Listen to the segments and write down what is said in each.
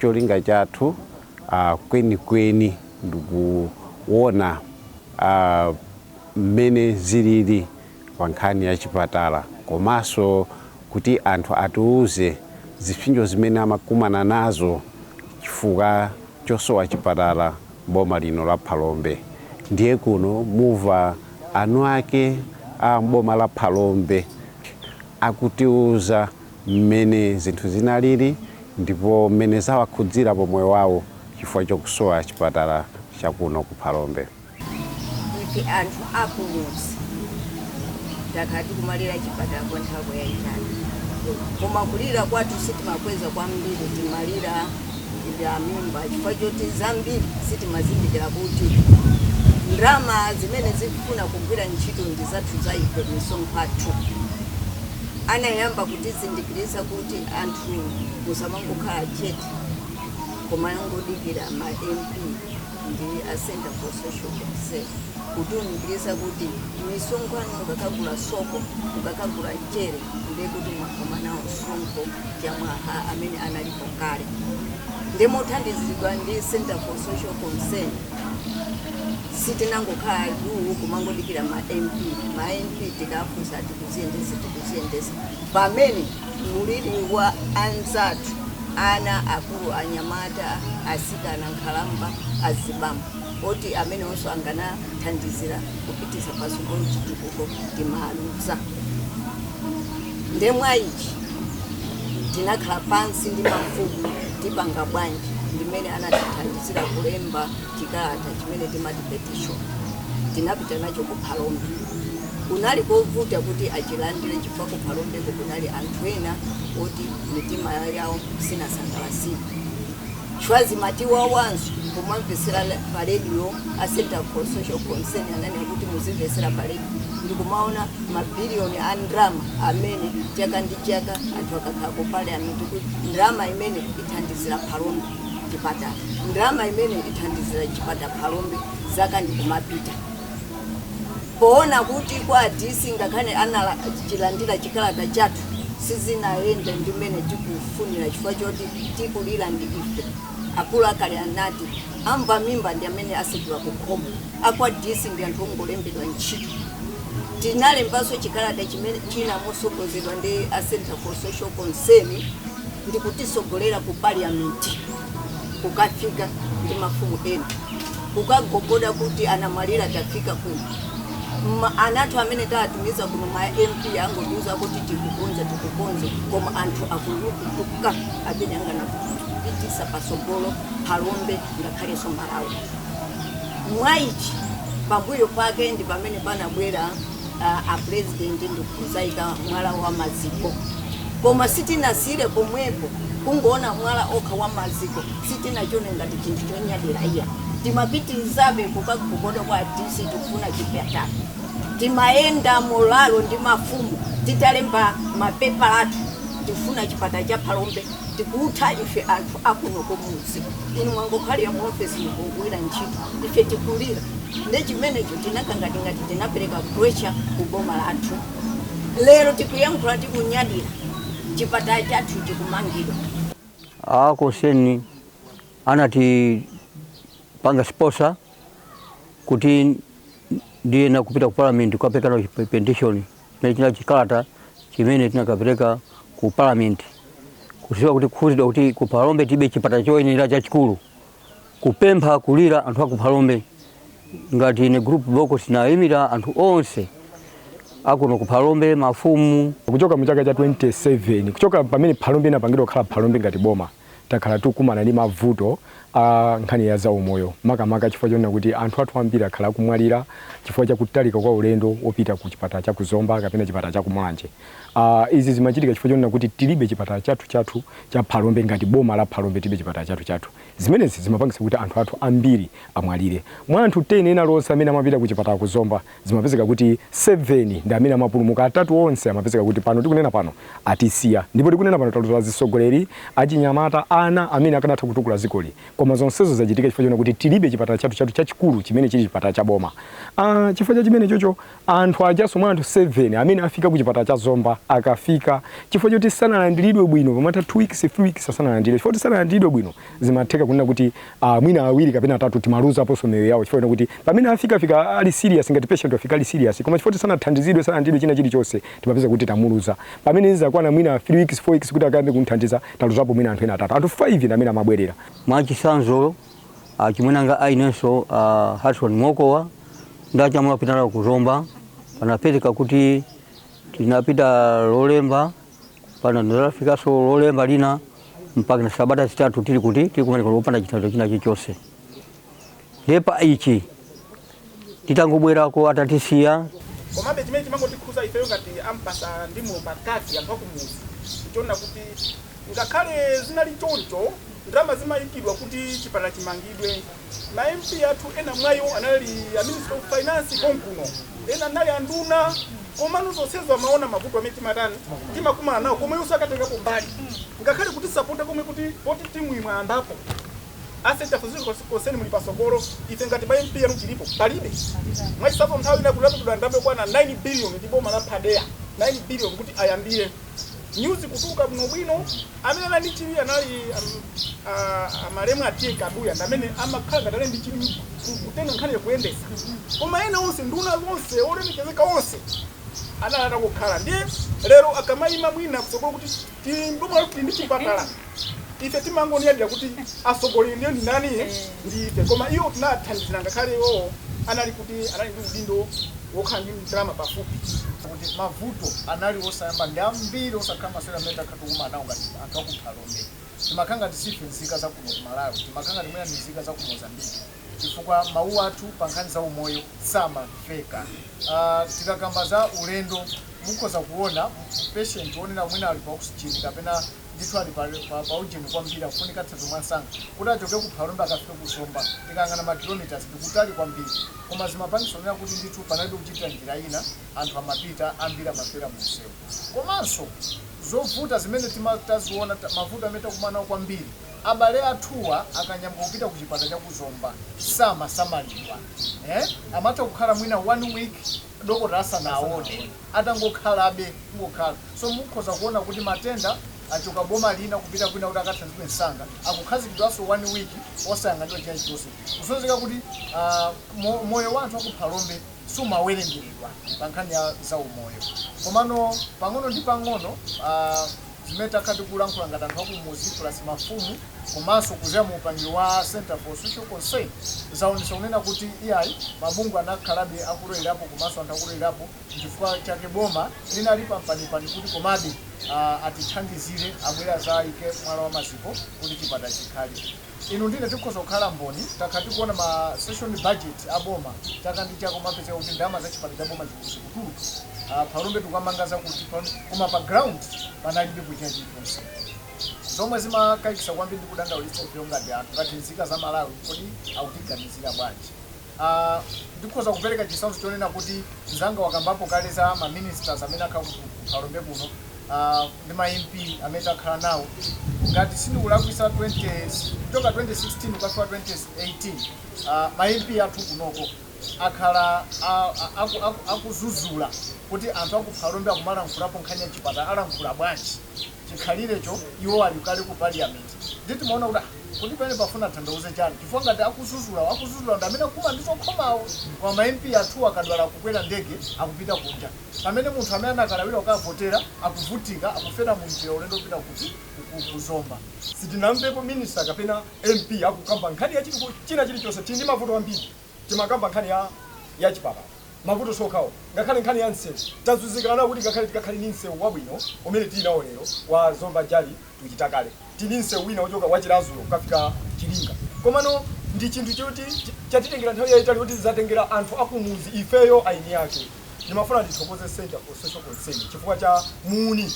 cholinga chathu uh, kwenikweni ndikuona uh, mmene zilili pa nkhani ya chipatala komanso kuti anthu atiuze zipsinjo zimene amakumana nazo chifukwa chosowa chipatala m'boma lino la Phalombe. Ndiye kuno muva eni ake a m'boma la Phalombe akutiuza mmene zinthu zinalili ndipo mmene zawakhudzira pa moyo wawo chifukwa chokusowa chipatala cha kuno ku Phalombe. ife anthu akumudzi takhala tikumalira chipatala kwa nthawi yayitali koma kulira kwathu sitimakweza kwambiri timalira cham'mimba chifukwa choti zambiri sitimazindikira kuti ndalama zimene zikufuna kugwira ntchito ndi zathu za ife misonkho yathu anayamba kutizindikiritsa kuti anthu musamangokhala chete kumangodikira ma mp ndi a center for social concern kutiunikirisa kuti misonkho mukakagula sopo mukakagula mchere ndiye kuti mwakomana nawo msonkho chamwaa amene analipo kale ndi mothandizidwa ndi center for social concern sitinangokhala duu kumangodikira ma mp ma mp tikafunsa tikuziyendesa tikuziyendesa pamene Maliro wa anzathu, ana, akulu, anyamata, atsikana, nkhalamba, azibambo, oti amenewonso anganathandizira kupititsa patsogolo chitukuko timaluza. Nde mwaichi tinakhala pansi ndi mafumu tipanga bwanji ndimene anatithandizira kulemba chikalata chimene timati petition tinapita nacho ku Phalombe. Kunali kovuta kuti achilandire. Kuphalombeko kunali anthu ena oti mitima yawo sinasangalatsidwe chifukwa zimatiwawa ifenso kumamvetsera pa redio a Center for Social Concern ananena kuti muzimvetsera pa redio ndi kumaona mabiliyoni a ndalama amene chaka ndi chaka anthu akakhala ku parliament kuti ndalama imene ithandizira Phalombe chipatala, ndalama imene ithandizira chipatala Phalombe, zaka ndi kumapita. Poona kuti kwa a DC ngakhale anachilandira chikalata chathu sizinayende ndi mmene tikufunira chifukwa choti tikulira ndi ife, akulu akale anati, Amva mimba ndi amene asegula kukhomo, a kwa DC ndi anthu ongolembedwa ntchito. Tinalembanso chikalata china mosogozedwa ndi a Centre for Social Concern ndi kutisogolera ku Parliament kukafika ndi mafumu ena. kukagogoda kuti anamwalira tafika kuno ana athu amene taatumiza kuno ma mp angotiuza kuti tikukonza tikukonza koma anthu akulukutuka amene akanapitisa patsogolo phalombe ngakhalenso malawi mwaichi pambuyo pake ndi pamene panabwera a president ndikuzaika mwala wa maziko koma sitinasiyire pomwepo kungoona mwala wokha wa maziko sitinachone ngati chinthu chonyadira iya timapitirizabe kukagogoda kwa dc tikufuna chipatala timayenda mololo ndi mafumu titalemba mapepala athu tifuna chipata cha phalombe tikutha ife anthu akuno kumudzi inu mwangokhalira mu office mukugwira ntchito ife tikulira nde chimenecho tinakhala ngati tinapereka pressure ku boma lathu lero tikuyankhula tikunyadira chipatala chathu chikumangidwa a Concern anatipanga sponsor kuti ndiye nakupita ku parliament kukapereka nawo petition nachina chikalata chimene tinakapereka ku parliament kuziwa kuti kukhuzidwa kuti ku phalombe tibe chipata choyenera chachikulu kupempha kulira anthu aku phalombe ngati ine group Bokosi ndaimira anthu onse akuno ku phalombe mafumu kuchoka mu chaka cha 27 kuchoka pamene phalombe inapangidwa kukhala phalombe ngati boma takhala tikukumana ndi mavuto a nkhani ya zaumoyo makamaka chifukwa chonena kuti anthu athu ambiri akhala akumwalira chifukwa cha kutalika kwa ulendo wopita ku chipatala cha ku Zomba kapena chipatala cha ku Mulanje. Uh, izi zimachitika chifukwa chonena kuti tilibe chipatala chathu chathu cha Phalombe ngati boma la Phalombe tilibe chipatala chathu chathu. Zimenezi zimapangisa kuti anthu athu ambiri amwalire. Mwa anthu 10 ena alionse amene amapita ku chipatala ku Zomba zimapezeka kuti 7 ndi amene amapulumuka, atatu onse amapezeka kuti pano tikunena pano atisiya, ndipo tikunena pano taluza azisogoleri, achinyamata, ana amene akanatha kutukula zikoli, koma zonsezo zachitika chifukwa chona kuti tilibe chipatala chathu chathu chachikulu chimene chili chipatala cha boma. Aaa chifukwa cha chimenecho anthu ajaso mwa anthu 7 amene afika ku chipatala cha Zomba akafika chifukwa choti sanalandilidwe bwino pamatha 2 weeks, 3 weeks asanalandilidwe chifukwa choti sanalandilidwe bwino Zimatheka kunena kuti uh, mwina awiri kapena atatu timaluzaposo miyoyo yawo chifukwa kuti pamene afika fika ali serious ngati patient wafika ali serious koma chifukwa sanathandizidwe sanathandizidwe china chilichonse timapeza kuti tamuluza pamene zakwana mwina 3 weeks 4 weeks kuti akayambe kumthandiza taluzapo mwina anthu ena atatu anthu 5 ndi amene amabwerera mwachisanzo achimwene anga ah, ainenso uh, ah, Harrison Mokowa nditanyamula kupita ku Zomba panapezeka kuti tinapita lolemba pano ndinafikaso lolemba lina mpakana sabata zitatu tili kuti tikumanika popanda chithandizo china chilichonse ndiye pa ichi titangobwerako atatisiya komabe chimene chimangotikhudza ifeyo ngati a Mpasa ndi momwe ngati anthu akumudzi timaona kuti ngakhale zinali choncho ndalama zimayikidwa kuti chipatala chimangidwe Ma MP athu ena mwa iwo anali a Minister of Finance konkuno, ena anali anduna komano zonsezo amaona mavuto amene timatani, timakumana nawo koma iwo osakatengapo mbali ngakhale kutisapota komwe kuti poti ntchitoyi mwayambapo a Centre for Social Concern muli patsogolo ife ngati ma MP anu tilipo palibe. Mwachitsanzo nthawi ina kunaperekedwa ndalama yokwana 9 billion ndi boma la BADEA, 9 billion kuti ayambire nyuzi kutuluka bwinobwino. Amene anali ndi chidwi anali a malemu a T.A. Kaduya ndi amene amakhala ngati anali ndi chidwi kutenga nkhaniyo kuyendetsa koma ena onse nduna zonse, olemekezeka onse anali atangokhala ndiye lero akamayima mwina kutsogolo kuti bomalo tili ndi chipatala ife timangonyadira kuti atsogoleri ndiwo ndi ndani? Ndi ife koma iwo sanatithandizire ngakhale iwowo anali kuti anali ndi udindo wokhala ndi ndalama pafupi. Kuti mavuto anali osayamba ndi ambiri osakhala masewera amene takhala. Tikukumana nawo ngati anthu aku Phalombe. Timakhala ngati siife nzika za kuno ku Malawi. Timakhala ngati mwina ndife nzika za ku Mozambique chifukwa mawu athu pa nkhani za umoyo samamveka. Tikakamba za ulendo, mukhoza kuona patient wonena mwina ali pa oxygen kapena ndithu ali pa ujeni kwambiri akufunika thandizo mwansanga, kuti achoke ku Phalombe akafike ku Zomba, tikayang'ana ma km ndi kutali kwambiri. Koma zimapangitsa kunena kuti ndithu panalibe kuchitira njira ina, anthu amapita, ambiri amafera mu msewu. komanso zovuta zimene tima taziona ta, mavuto amene takumana nawo kwambiri, abale athuwa akanyamuka kupita ku chipatala cha ku Zomba samasamalidwa eh, amatha kukhala mwina one week dokotala asanawaone, atangokhalabe, kungokhala. So mukhoza kuona kuti matenda achoka boma lina kupita kwina kuti akathandizidwe msanga, akukhazikidwanso one week osayang'aniridwa china chilichonse. Kusonyeza kuti ah, mo, moyo wa anthu a ku Phalombe. sumawerengeredwa pa nkhani ya zaumoyo. Komano pang'ono ndi pang'ono a, zimene takhala tikulankhula ngati anthu akumudzi plus mafumu komanso kudzera mu upangiri wa Centre for Social Concern zaonetsa kunena kuti iyayi mabungwe anakhalabe akulowerapo komanso anthu akulowerapo, nchifukwa chake boma linali pampanipani kuti komabe a, atithandizire, abwere adzaike mwala wa maziko kuti chipatala chikhale. Inu ndine tikhoza kukhala mboni takhala tikuona ma session budget a boma chaka ndi chaka kumapezeka kuti ndalama za chipatala cha boma zikutuluka a phalombe tikamanga zakuti koma pa ground panalibepo china chilichonse zomwe zimakayikisa kwambiri ndi kudandaulitsa ifeyo ngati anthu ngati nzika za Malawi kodi akutiganizira bwanji Ah, ndikhoza kupereka chitsanzo chonena kuti mzanga wakambapo kale za ma ministers amene akhala ku ku- ku Phalombe kuno ah, ndi ma MP amene takhala nawo ngati sindikulakwisa 20 kuchoka 2016 kukafika 2018 ah, ma MP athu kunoko akhala a- a- aku- aku- akuzuzula kuti anthu aku Phalombe akumalankhulapo nkhani ya chipatala alankhula bwanji chikhalirecho iwo ali kale ku parliament ndiye timaona kuti ah, kodi pamene pafuna athandauze chani chifukwa ngati akuzuzulawo akuzuzulawo ndi amene akumanditsokhomawo koma ma mp athu akadwala akukwera ndege akupita kunja pamene munthu amene anakalawira kukavotera akuvutika akufera mu njira ulendo wopita kuti ku zomba sitinamvepo minister kapena mp akukamba nkhani ya china chilichonse tili ndi mavuto ambiri. Timakamba nkhani ya ya chipatala, mavuto siokhawo ngakhale nkhani ya msewu tazuzika nawo kuti ngakhale tikakhale ndi msewu wabwino umene tili nawo lero wa Zomba Jali to Chitakale tili ndi msewu wina wochoka wa Chiradzulu kukafika Chilinga komano ndi chinthu choti chatitengera nthawi yaitali yoti zatengera anthu akumudzi ifeyo eni ake. Ndimafuna ndithokoze Centre for Social Concern chifukwa cha muuni.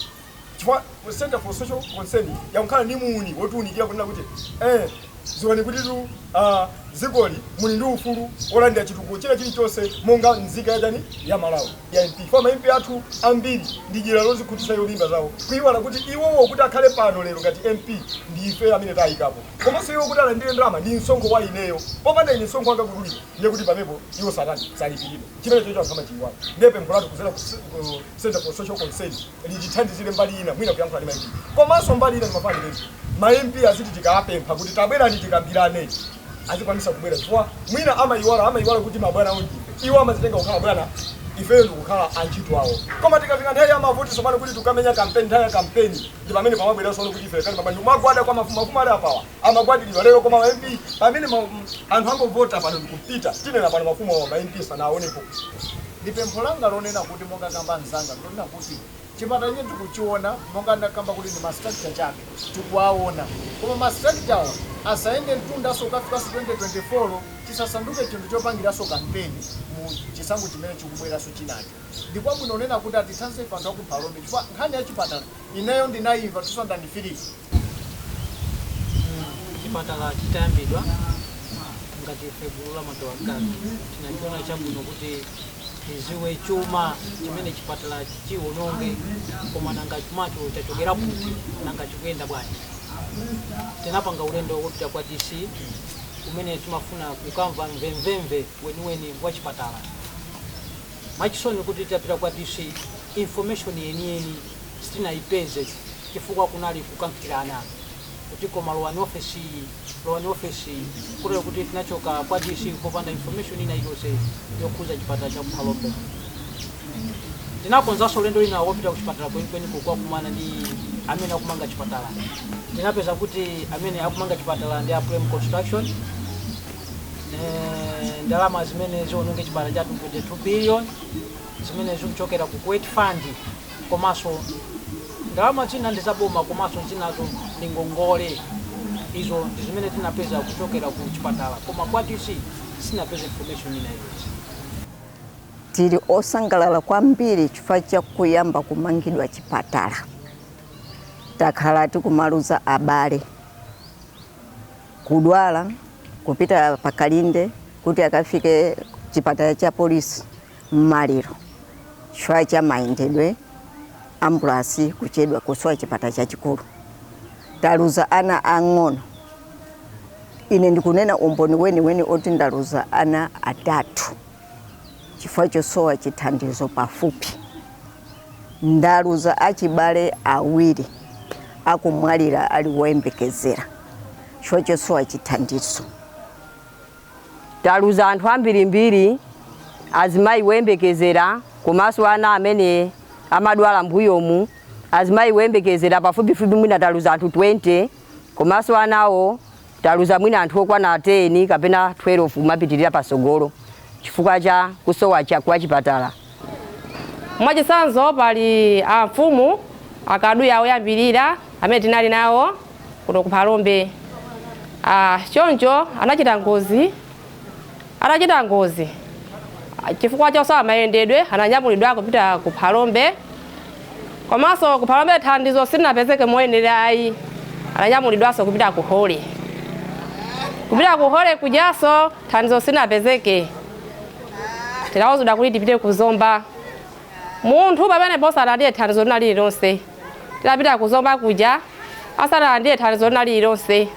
chifukwa ku Centre for Social Concern yakhala ndi muuni wotiunikira kunena kuti eeh dziwani kutitu aah dzikoli muli ndi ufulu wolandira chitukuko china chilichonse monga nzika yachani ya Malawi ma MP chifukwa ma MP athu ambiri ndi dyera lozikhutitsa iwo mimba zawo kuiwala kuti iwowo kuti akhale pano lero ngati MP ndi ifeyo amene tawaikapo komanso iwo kuti alandire ndalama ndi msonkho wa ineyo popanda ine msonkho wanga kudulidwa ndiye kuti pamepo iwo satani salipiridwa chimenechocho anthu amachiiwala ndiye pempho lathu kudzera ku Centre for Social Concern litithandizire mbali ina mwina kuyankhula ndi ma MP komanso mbali ina timafana ndi president ma MP aziti tikawapempha kuti tabwerani tikambirane azikwanisa kubwera chifukwa mwina amayiwala amayiwala kuti mabwana awo ndi ife iwo amazitenga kukhala bwana ifeyo ndikukhala antchito awo koma tikafika nthawi ya mavoti tsopano kuti tukamenye kampeni nthawi ya kampeni ndi pamene pamabwera tsopano kuti ife kali pabanja kumagwada kwa mafumu mafumu ali apawa amagwadiridwa lero koma ma MP pamene ma- m- anthu angovota pano ndikupita tinena pano mafumu awo ma MP sanaonepo ndi pempho langa lonena kuti monga kamba mzanga Kunena kuti chipatala chimene tikuchiona monga ndakamba kuti ndi ma structure chabe tikuwaona koma ma structure wa asayende mtundanso kukafikanso 2024 chisasanduke chinthu chopangiranso kampeni mu chisankho chimene chikubweranso chinacho. Ndi kwabwino kunena kuti atithandize ife anthu a ku Phalombe chifukwa nkhani ya chipatala Ineyo ndinayimva 2003. Chipatala chitayambidwa ngati ife gulu la ma Gawankhani tinachiona chabwino kuti tiziwe chuma chimene chipatalachi chiwononge koma nanga chumacho chachokera kuti nanga chikuyenda bwanji tinapanga ulendo wopita kwa dc kumene timafuna kukamva mvemvemve weniweni wa chipatala Mwachisoni titapita kwa DC information yeniyeni sitinayipeze chifukwa kunali kukankhirana kuti koma lowani office iyi lowani office iyi kotero kuti tinachoka kwa DC popanda information ina iliyonse yokhuza chipatala cha ku Phalombe. Tinakonzanso ulendo wina wopita kuchipatala kwenikweni kukakumana ndi amene akumanga chipatala. Tinapeza kuti amene akumanga chipatala ndi a Plem Construction. eh, ndalama zimene ziononge chipatala chathu ndi 22 billion zimene zikuchokera ku kuwait fund komanso ndalama zina ndi zaboma komanso zinazo ndi ngongole izo ndi zimene tinapeza kuchokera ku chipatala koma kwa dc sitinapeze information ina iliyonse tili osangalala kwambiri chifukwa cha kuyamba kumangidwa chipatala takhala tikumaluza abale kudwala kupita pa Kalinde kuti akafike chipatala cha polisi maliro chifukwa cha mayendedwe ambulasi kuchedwa kusowa chipatala chachikulu taluza ana ang'ono ine ndikunena umboni weniweni oti ndaluza ana atatu chifukwa chosowa chithandizo pafupi Ndaluza achibale awiri akumwalira ali woyembekezera chifukwa chosowa chithandizo. Taluza anthu ambirimbiri, azimayi woyembekezera komanso ana amene amadwala mbuyomu, azimayi woyembekezera pafupifupi mwina taluza anthu 20 komanso anawo. Taluza mwina anthu okwana 10 kapena 12 kumapitilira pasogolo chifukwa cha kusowa kwa chipatala. Mwachitsanzo pali a mfumu a Kaduya oyambilira amene tinali nawo kuno ku Phalombe. Choncho anachita ngozi. Atachita ngozi chifukwa chosowa mayendedwe, ananyamulidwa kupita ku Phalombe komanso ku Phalombe thandizo silinapezeke moyenera ayi, ananyamulidwanso kupita ku Holy. Kupita ku Holy kujanso thandizo silinapezeke, tinauzidwa kuti tipite ku Zomba. Munthu pamenepo sanalandire thandizo lina lililonse, tinapita ku Zomba kuja asanalandire thandizo lina lililonse.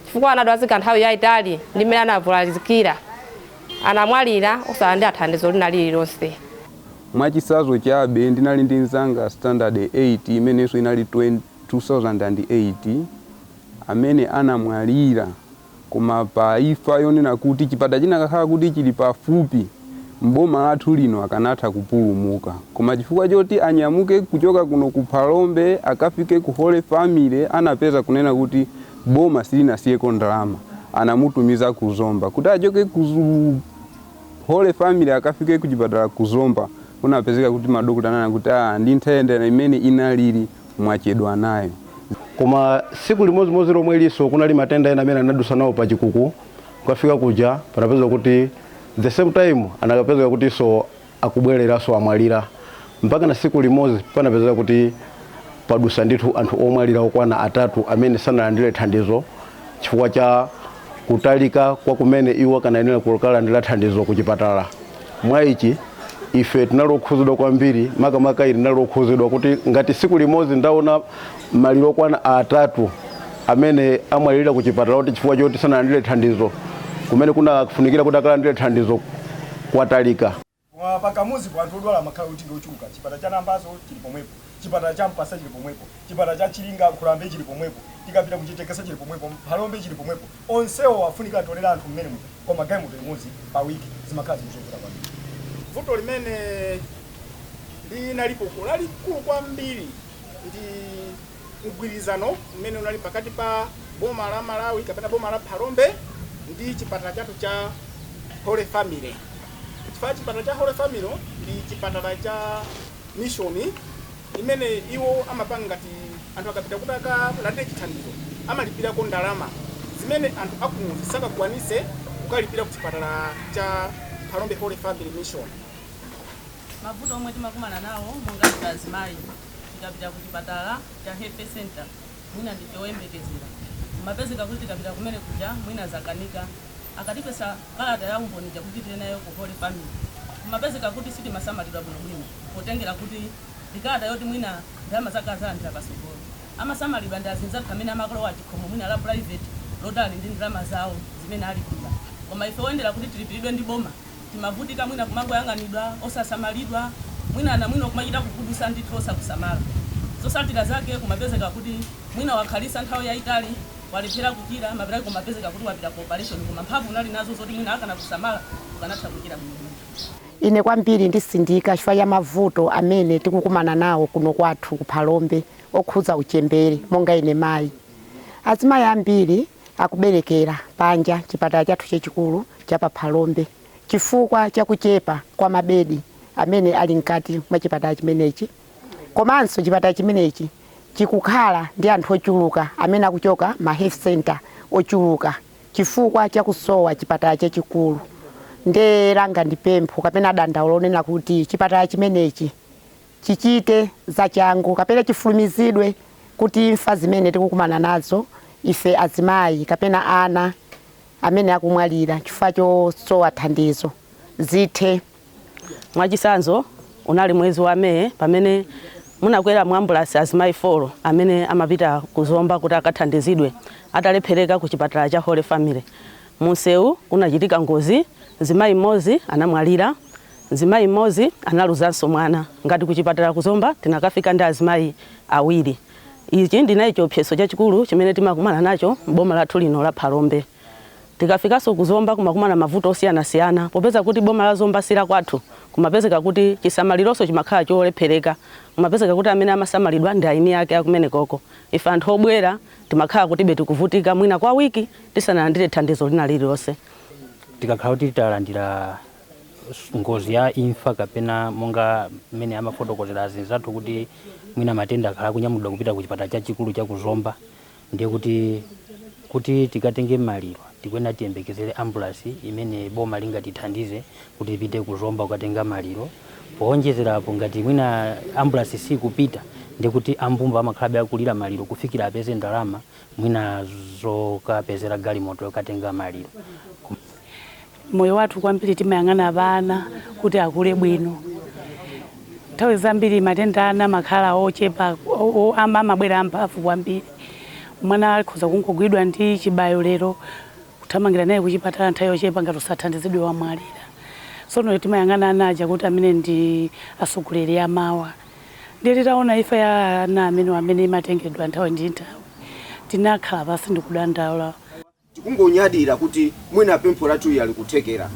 chifukwa anadwazika nthawi yaitali ndi mmene anavulazikira anamwalira osalandira thandizo lina lililonse. Mwachitsanzo chabe, ndinali ndi mnzanga standard 8 imenenso inali 2008 amene anamwalira koma pa imfa yonena kuti chipatala chinakakhala kuti chili pafupi m'boma lathu lino akanatha kupulumuka koma chifukwa choti anyamuke kuchoka kuno ku Phalombe akafike ku Holy Family anapeza kunena kuti Boma silinasiyeko ndalama, anamutumiza ku Zomba kuti achoke ku Holy Family akafike ku chipatala ku Zomba. Kunapezeka kuti madokota ananena kuti ah, ndi nthenda mmene inalili mwachedwa nayo. Koma tsiku limodzimodzi lomwelinso kunali matenda ena amene anadutsa nawo pa chikuku kukafika kuja panapezeka kuti the same time anakapezeka kutinso akubweleranso amwalira mpakana siku limozi panapezeka kuti padusa ndithu anthu omwalira okwana atatu amene sanalandile thandizo chifukwa cha kutalika kwa kumene iwo akanayenera kukalandila thandizo ku chipatala mwa ichi ife tinali okhuzidwa kwambiri makamaka ine ndinali okhuzidwa kuti ngati siku limozi ndaona Maliro okwana atatu amene amwalilira ku chipatala kuti chifukwa choti sanalandire thandizo kumene kunafunikira kuti akalandire thandizo kwatalika. Pa kamudzipo anthu odwala amakhala kuti ndi ochuluka. Chipatala cha Nambazo chili pomwepo, chipatala cha Mpasa chili pomwepo, chipatala cha Chilinga, Nkhulambe chili pomwepo, tikapita ku Chitekesa chili pomwepo, Phalombe chili pomwepo. Onsewo afunika atolere anthu m'menemo koma galimoto imodzi pa week zimakhala zinthu zovuta kwambiri. Vuto limene linalipo uko lalikulu kwambiri. ndi mgwirizano umene unali pakati pa boma la Malawi kapena boma la Phalombe ndi chipatala chathu cha Holy Family. Chipatala cha Holy Family ndi chipatala cha mishoni imene iwo amapanga ngati anthu akapita kuti akalandire chithandizo amalipirako ndalama zimene anthu akumudzi sakakwanise kukalipira ku chipatala cha Phalombe Holy Family Mission. Mavuto omwe timakumana nawo monga ife azimayi tikapita ku chipatala cha health centre mwina ndife oyembekezera kumapezeka kuti tikapita kumene kuja mwina zakanika akatipesa kalata ya umboni ija kuti tipite nayo ku Holy Family kumapezeka kuti sitimasamalidwa bwinobwino potengera kuti ndi kalata yoti mwina ndalama zake adzalandira patsogolo. Amasamalidwa ndi azinzathu amene amakalowa chikhomo mwina la private oti ali ndi ndalama zawo zimene alipira koma ife oyendera kuti tilipiridwe ndi boma timavutika mwina kumangoyang'anidwa osasamalidwa mwina anamwino kumachita kugudusa ndithu osakusamala zotsatira zake kumapezeka kuti mwina wakhalisa nthawi yayitali walephera kuchira mapeto ake kumapezeka kuti wapita ku operation koma mphamvu unali nazo zoti mwina akanakusamala ukanatha kuchira bwino bwino. Ine kwambiri ndisindika chifukwa cha mavuto amene tikukumana nawo kuno kwathu ku Phalombe okhudza uchembere monga ine mayi. Azimayi ambiri Akuberekera panja chipatala chathu chachikulu cha pa Phalombe chifukwa cha kuchepa kwa mabedi amene ali mkati mwa chipatala chimenechi komanso chipatala chimenechi chikukhala ndi anthu ochuluka amene akuchoka ma health centre ochuluka chifukwa cha kusowa chipatala chachikulu nde langa ndi pempho kapena dandaulo lonena kuti chipatala chimenechi chichite zachangu kapena chifulumizidwe kuti imfa zimene tikukumana nazo ife azimayi kapena ana amene akumwalira chifukwa chosowa thandizo zithe. Mwachitsanzo, unali mwezi wa May pamene munakwera mu ambulasi azimayi 4 amene amapita ku Zomba kuti akathandizidwe atalephereka ku chipatala cha Holy Family. Munsewu munachitika ngozi, mzimayi mmodzi anamwalira. Mzimayi mmodzi analuzanso mwana. Ngati ku chipatala ku Zomba tinakafika ndi azimayi awiri. Ichi ndiye chiopsezo chachikulu chimene timakumana nacho m'boma lathu lino la Phalombe. Tikafikanso ku Zomba kumakumana mavuto osiyanasiyana. Popeza kuti boma la Zomba si lakwathu, kumapezeka kuti chisamalironso chimakhala cholephereka. Kumapezeka kuti amene amasamalidwa ndi eni ake akumenekoko. Ife anthu obwera timakhala kutibe tikuvutika mwina kwa wiki tisanalandire thandizo lina lililonse. Tikakhala kuti talandira ngozi ya imfa kapena monga mmene amafotokozera azinzathu kuti mwina matenda akhala akunyamulidwa kupita ku chipatala chachikulu cha ku Zomba ndiye kuti tikatenge maliro tikuyenera tiyembekezere ambulansi imene boma lingatithandize kuti ipite ku Zomba kukatenga maliro powonjezera apo ngati mwina ambulansi sikupita ndiye kuti a mbumba amakhalabe akulira maliro kufikira apeze ndalama mwina zokapezera galimoto yokatenga maliro Moyo wathu kwambiri timayang'ana pa ana kuti akule bwino. Nthawi zambiri matenda a ana amakhala ochepa, amabwera amphamvu kwambiri. Mwana akhoza kungogwidwa ndi chibayo lero, kuthamangira naye kuchipatala nthawi yochepa ngati osathandizidwa wamwalira. Tsono timayang'ana ana aja kuti amene ndi atsogoleri amawa. Ndiye titaona imfa ya ana amenewa amene imatengedwa nthawi ndi nthawi, tinakhala pansi ndi kudandaula. Tikungonyadira kuti mwina pempho lathu ija likuthekera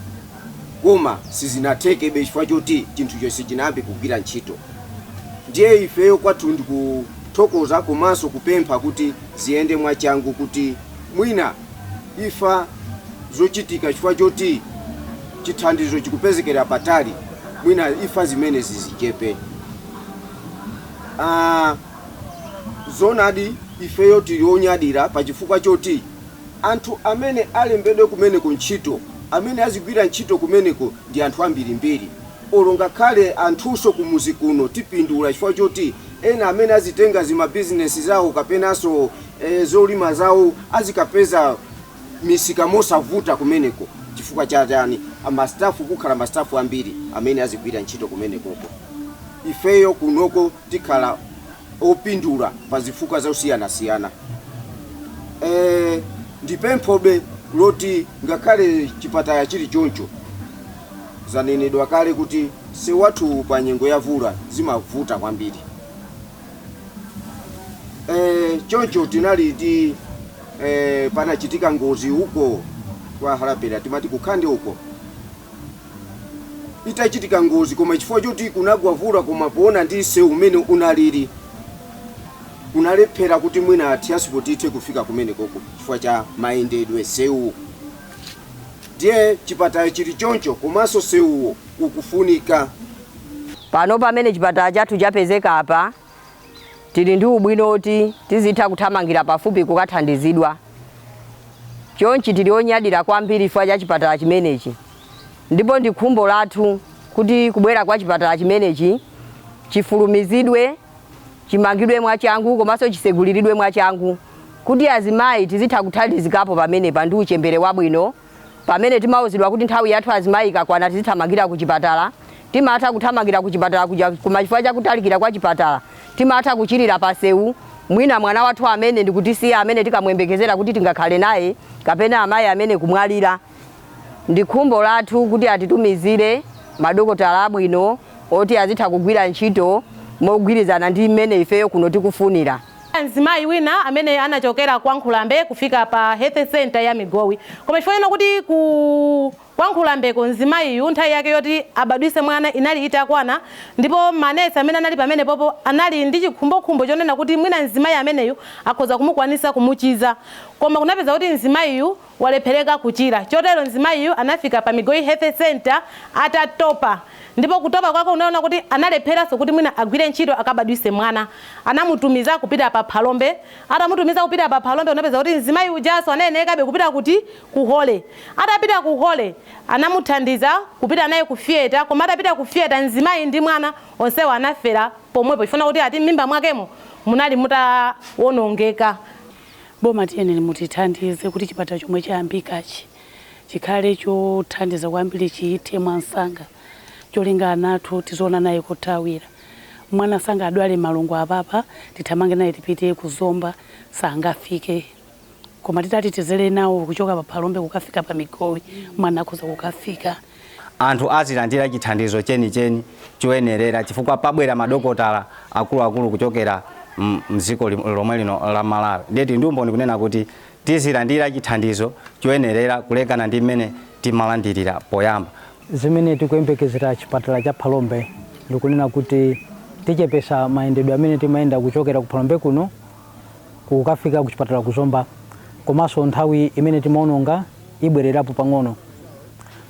koma sizinathekebe chifukwa choti chinthucho sichinayambe kugwira ntchito ndiye ifeyo kwathu ndikuthokoza komanso kupempha kuti ziyende mwachangu kuti mwina imfa zochitika chifukwa choti chithandizo chikupezekera patali mwina imfa zimenezi zichepe. Ah, Zoonadi, ifeyo tili onyadira pa chifukwa choti anthu amene alembedwe kumeneko ntchito, amene azigwira ntchito kumeneko ndi anthu ambirimbiri. Olo ngakhale anthunso kumudzi kuno tipindula chifukwa choti ena amene azitenga zimabizinesi zawo kapenanso zolima zawo azikapeza misika mosavuta kumeneko chifukwa cha chani, mastafu, kukhala mastafu ambiri amene azigwira ntchito kumenekoko. Ifeyo kunoko tikhala opindula pa zifukwa zosiyanasiyana. E, ndi pemphobe loti ngakhale chipatala chili choncho zanenedwa kale kuti msewu wathuwu pa nyengo ya vula zimavuta kwambiri. E, choncho tinali ndi e, panachitika ngozi uko kwa Harapera timati ku Khande uko itachitika ngozi koma chifukwa choti kunagwa mvula koma poona ndi msewu umene unalili kunalephera kuti mwina transport ithe kufika kumenekoko chifukwa cha mayendedwe a msewuwo ndiye chipatala chili choncho komanso msewuwo ukufunika Pano pamene chipatala chathu chapezeka apa, tili ndi ubwino woti tizitha kuthamangira pafupi kukathandizidwa. Chonchi tili onyadira kwambiri chifukwa cha chipatala chimenechi ndipo ndi khumbo lathu kuti kubwera kwa chipatala chimenechi chifulumizidwe, chimangidwe mwachangu komanso chiseguliridwe mwachangu kuti azimayi tizitha kuthandizikapo pamenepa ndi uchembere wabwino. Pamene timauzidwa kuti nthawi yathu azimayi ikakwana tizithamangira kuchipatala, timatha kuthamangira kuchipatala kuja koma chifukwa cha kutalikira kwa chipatala timatha kuchirira pansewu, mwina mwana wathu amene ndi kutisiya amene tinkamuyembekezera kuti tingakhale naye kapena amayi amene kumwalira. Ndi khumbo lathu kuti atitumizire madokotala abwino oti azitha kugwira ntchito mogwirizana ndi mmene ifeyo kuno tikufunira. Mzimayi wina amene anachokela kwa Nkhulambe kufika pa Health Center ya Migowi. Koma chifukwa chonena kuti ku kwa Nkhulambeko mzimayiyu nthawi yake yoti abadwise mwana inali itakwana ndipo manesi amene anali pamene popo anali ndi chikhumbokhumbo chonena kuti mwina mzimayi ameneyu akhoza kumukwanisa kumuchiza koma kunapeza kuti mzimayiyu walephereka kuchira. Chotero mzimayiyu anafika pa Migowi Health Centre atatopa. Ndipo kutopa kwake unaona kuti analepheranso kuti mwina agwire ntchito akabadwise mwana. Anamutumiza kupita pa Phalombe. Atamutumiza kupita pa Phalombe unapeza kuti mzimayi ujanso anayenekabe kupita kuti? Ku Holy. Atapita ku Holy anamuthandiza kupita naye ku theatre koma atapita ku theatre mzimayi ndi mwana onsewo anafera pomwepo chifukwa kuti ati m'mimba mwakemo munali mutawonongeka. Boma tiyeneni mutithandize kuti chipatala chomwe chayambikachi chikhale chothandiza kwambiri chithe mwansanga cholinga ana athu tiziona nawo kothawira. Mwana sangadwale malungo apapa tithamange naye tipite ku Zomba sangafike koma titati tizele nawo kuchoka pa Phalombe kukafika pa Migowi mwana akhoza kukafika. anthu azilandira chithandizo chenicheni choyenerera chifukwa pabwera madokotala akuluakulu kuchokera m'dziko lomwe lino la Malawi ndiye tili ndi umboni kunena kuti tizilandira chithandizo choyenerera kulekana ndi mmene timalandirira poyamba. Zimene tikuyembekezera chipatala cha Phalombe ndi kunena kuti tichepesa mayendedwe amene timayenda kuchokera ku Phalombe kuno kukafika kuchipatala ku Zomba komanso nthawi imene timaononga ibwererapo pang'ono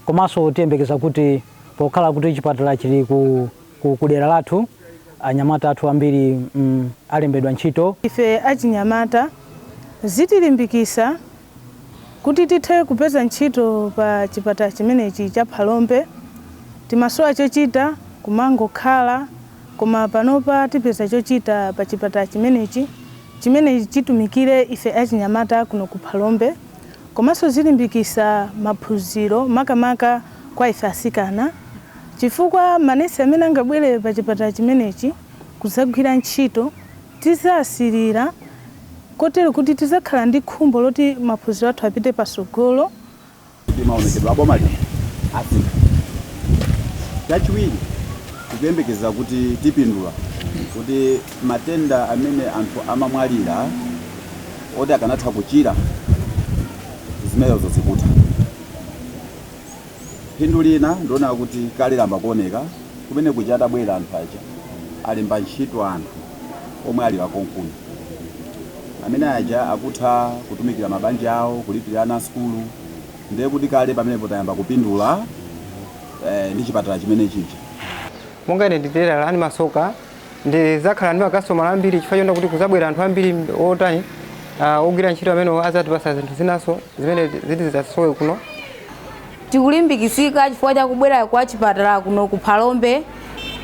komanso tiyembekeza kuti pokhala kuti chipatala chili ku dera lathu anyamata athu ambiri alembedwa ntchito Ife achinyamata zitilimbikisa Kuti tithe kupeza ntchito pa chipatala chimenechi cha Phalombe, timasowa chochita kumangokhala koma panopa tipeza chochita pa chipatala chimenechi chimene chitumikire ife achinyamata kuno ku Phalombe komanso zilimbikisa maphunziro makamaka kwa ife asikana chifukwa manesi amene angabwere pa chipatala chimenechi kuzagwira ntchito Tizasirira kotero kuti tizakhala ndi khumbo loti maphunziro athu apite pasogolo. kuti maonekedwe a boma lino asintha. Chachiwiri, tikuyembekeza kuti tipindula kuti matenda amene anthu amamwalira oti akanatha kuchira, zimenezo zikutha. Phindu lina ndilonena kuti kale layamba kuoneka kumene kuja atabwera anthu aja alemba ntchito anthu omwe ali akonkuno amene aja akutha kutumikira mabanja awo kulipirira ana sukulu ndiye kuti kale pamenepo tayamba kupindula ndi chipatala chimene chija. Monga ine ndi telala ndimasoka Ndidzakhala ndi makasitomala ambiri chifukwa choti ndi kuti kudzabwera anthu ambiri otani, ogwira ntchito amene adzatipatsa zinthu zinanso zimene zili zizasowa kuno. Tikulimbikitsika chifukwa cha kubwera kwa chipatala kuno ku Phalombe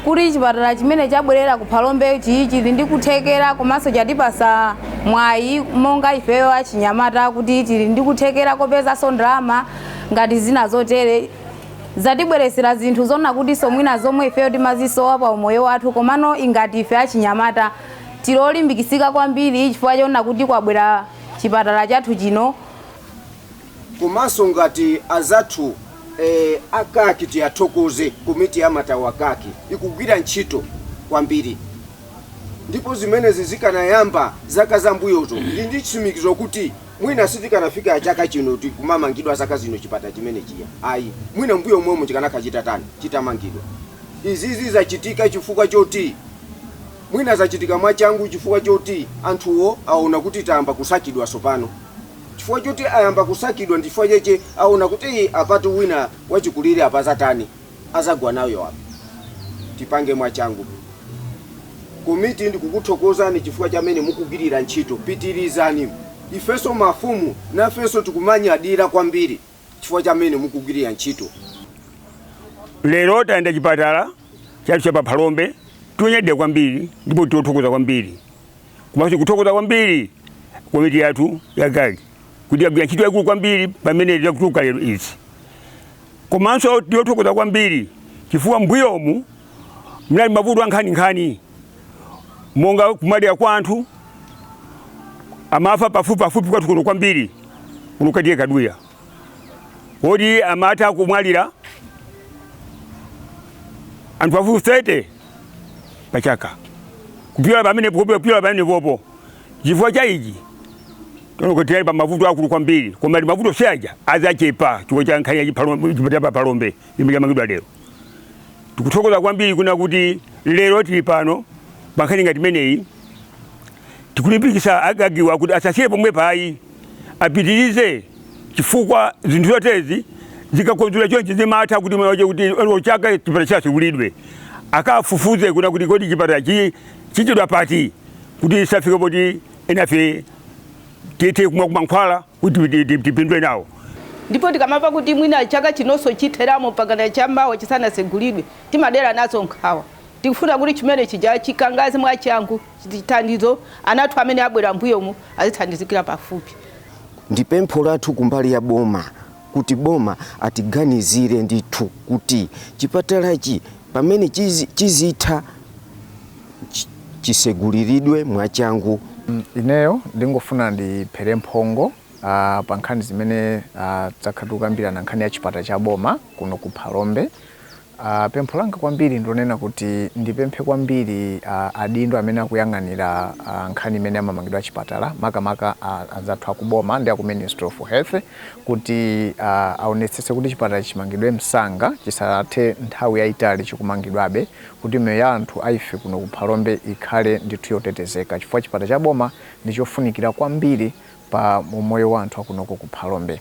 kuti chipatala chimene chabwelera ku Phalombe chi chili ndi kuthekera komanso chatipatsa mwayi monga ifeyo achinyamata kuti tili ndi kuthekera kopezanso ndalama ngati zina zotere. zatibweretsera zinthu zonena kutinso mwina zomwe ifeyo timazisowa pa umoyo wathu komano ngati ife achinyamata tili olimbikitsika kwambiri chifukwa chonena kuti kwabwera chipatala chathu chino komanso ngati azathu eh, akaki tiwathokoze komiti ya matawa akaki ikugwira ntchito kwambiri ndipo zimenezi zikanayamba zaka zambuyozo ndi ndi chitsimikizo kuti Mwina sitikanafika chaka chino chikumamangidwa zaka zino chipatala chimenechiya ayi. Mwina mmbuyo momwemu chikanakhala chitatani, chitamangidwa. Izizi zachitika chifukwa choti, mwina zachitika mwachangu chifukwa choti anthuwo aona kuti tayamba kusakidwa tsopano. Chifukwa choti ayamba kusakidwa ndi chifukwa chache aona kuti ii apatu wina wachikulire apa zatani. azagwa nayo apa tipange mwachangu komiti ndikukuthokozani chifukwa chamene mukugwirira ntchito pitirizani ifenso mafumu nafenso tikumanyadira kwambiri chifukwa chamene mukugwirira ntchito. Lero tayenda chipatala chathu cha pa Phalombe ndi onyadira kwambiri ndipo ndi othokoza kwambiri komanso tikuthokoza kwambiri komiti yathu ya GAG. kuti yagwira ntchito yaikulu kwambiri pamene tikutuluka lero izi komanso ndi othokoza kwambiri chifukwa mmbuyomu munali mavuto a nkhaninkhani monga kumwalira kwa anthu amafa pafupipafupi kwathu kuno kwambiri kuno kwa T/A Kaduya oti amatha kumwalira anthu pafupi 30 pachaka kupyola pamene kupyola pamenepopo Chifukwa cha ichi, tsono kuti tinali pa mavuto akulu kwambiri, koma ndi mavuto onse aja adzachepa chifukwa cha nkhani ya chiphalombe, chipatala cha Phalombe chimene chamangidwa lero. Tikuthokoza kwambiri kunena kuti lero tili pano pa nkhani ngati imeneyi. Tikulimbikitsa a GAG-wa kuti asasiye pomwepa ayi, apitirize chifukwa zinthu zoterezi zikakonzedwa chonchi zimatha kuti mwana wache kuti olo chaka chipatala chatsegulidwe akafufuze kunena kuti kodi chipatalachi chachedwa pati. kuti isafike poti enafe tithe kumwako mankhwala kuti ti- ti- tipindule nawo ndipo tikamamva kuti mwina chaka chinonso chitheramo mpakana chammawa chisanatsegulidwe timadera nazo nkhawa tikufuna kuti chimene chija chikangaze mwachangu chithandize ana athu amene abwera mmbuyomu azithandizikira pafupi ndi pempho lathu kumbali ya boma kuti boma atiganizire ndithu kuti chipatalachi pamene chizitha chiseguliridwe mwachangu. Ineyo ndingofuna ndiphere mphongo pa nkhani zimene zakhala tikukambirana nkhani ya chipatala cha boma kuno ku Phalombe. A, pempho langa kwambiri ndilonena kuti ndipemphe kwambiri a, adindo amene akuyang'anira a, nkhani imene ya mamangidwe a chipatala makamaka a, anzathu aku boma ndi aku Ministry of Health kuti a, aonetsetse kuti chipatala ichi chimangidwe msanga chisathe nthawi yaitali chikumangidwabe kuti miyoyo ya anthu a ife kuno ku Phalombe ikhale ndithu yotetezeka chifukwa chipatala cha boma ndichofunikira kwambiri pa umoyo wa anthu akunoko ku Phalombe.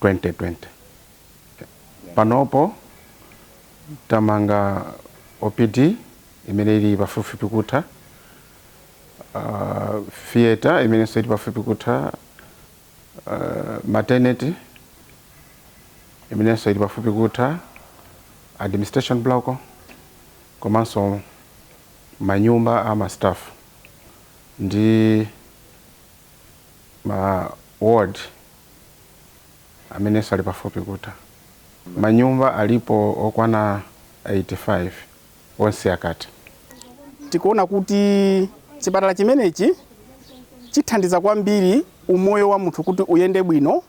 2020. Panopo tamanga OPD imene ili pafupifupi kutha, uh, theater imenenso ili pafupi kutha, uh, maternity imenenso ili pafupi kutha, administration block komanso manyumba a ma staff ndi ma ward amenenso ali pafupi kutha. Manyumba alipo okwana 85 onse akatha. Tikuona kuti chipatala chimenechi chithandiza kwambiri umoyo wa munthu kuti uyende bwino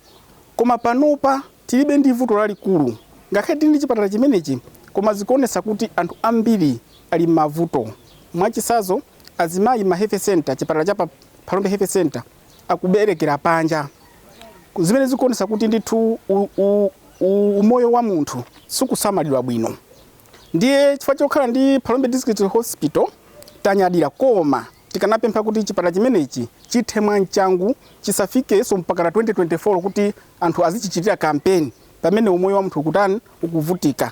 koma panopa tilibe ndi vuto lalikulu ngakhale tili ndi chipatala chimenechi koma zikuonetsa kuti anthu ambiri ali m'mavuto. Mwachitsanzo, azimayi ma health centre, chipatala cha pa Phalombe health centre. akuberekera panja Ku- zimene zikuonesa kuti ndithu u- u- u- umoyo wa munthu sukusamalidwa bwino ndiye chifukwa chokhala ndi Phalombe District Hospital tanyadira koma tikanapempha kuti chipatala chimenechi chithe mwachangu chisafikenso mpakana 2024 kuti anthu azichichitira kampeni pamene umoyo wa munthu ukutani ukuvutika